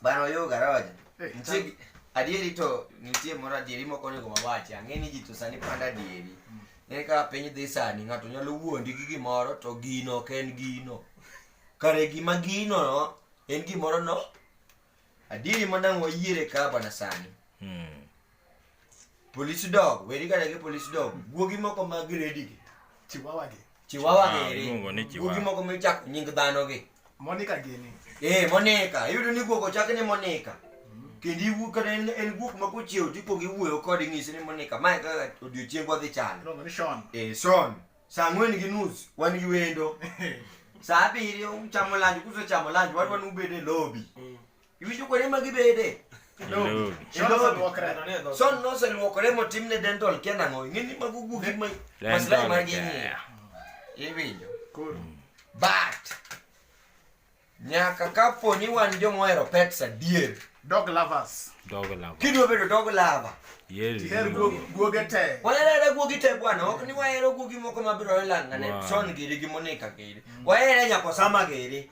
Bana yo garoja. Eh, Nitie adieri to nitie moro adieri moko onego wawachi. Ang'e ni ji to sani panda adieri. Mm. Ng'e ka piny dhi sani ng'ato nyalo wuondi gi gimoro to gino ok en gino. Kare gima gino no en gimoro no. Adieri manang' wayiere ka bana sani. Hmm. Police dog, weri kata gi police dog. Guogi moko ma gredi gi. Chihuahua gi. Chihuahua Ah, gi. iluongo ni Guogi chihuahua. moko ma ichako nying dhano gi. Monica gini. Eh, Monica, iyudo ni guok ochak ni Monica. Kendo iwu kata en, en guok ma kochiew to ikwongo iwuoyo kode inyise ni Monica, mae kaka odiochiengwa dhi chalo. Iluongo ni Sean. Eh, Sean, saa ang'wen gi nus wan gi wendo. Saa abiriyo uchamo lanj, kusechamo lanj wan wan ubede lobi. Iwinjo kuonde ma gibede? Hello. Hello. Son noseluokore motimne dental kia nang'o? Ing'e ni mago gugi ma maslahi mar gi ng'iyo. Iwinjo? But nyaka kapo ni wan joma ohero pets adier. Dog lovers. Dog lover. Kidwa bedo dog lover. Yes. Tiher guog- guoge te. Waherere guogi te bwana, ok ni wahero guogi moko mabiro e lang'ane. Wow. Son giri gi Monica giri. Wahere nyaka Osama giri.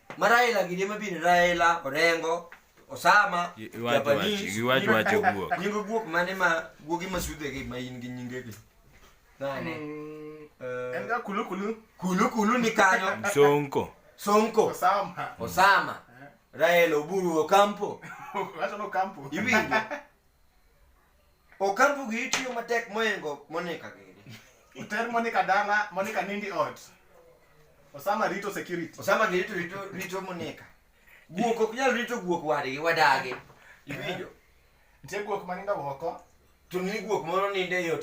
Ma Raila gini ema bin Raila, Orengo, Osama, Y- iwacho Japanese. wachi- iwacho nying wacho guok- guok. Nying guok mane ma guogi ma sudhegi ma in gi nyingegi. Nane. Mm, Eh, en ga kulu kulu Kulu kulu ni kanyo. Msonko. Sonko, osama Osama, Raila Oburu Okampo. wacho no kampo Iwinjo. Okampo gi itiyo matek moingo Monica gini. Oter Monica dala, Monica nindi ot. Osama rito security. Osama gi rito rito rito Monica. Guok ok nyal rito guok wadgi wadagi. Iwinjo? Nitie guok manindo oko. To ni guok moro ninde yot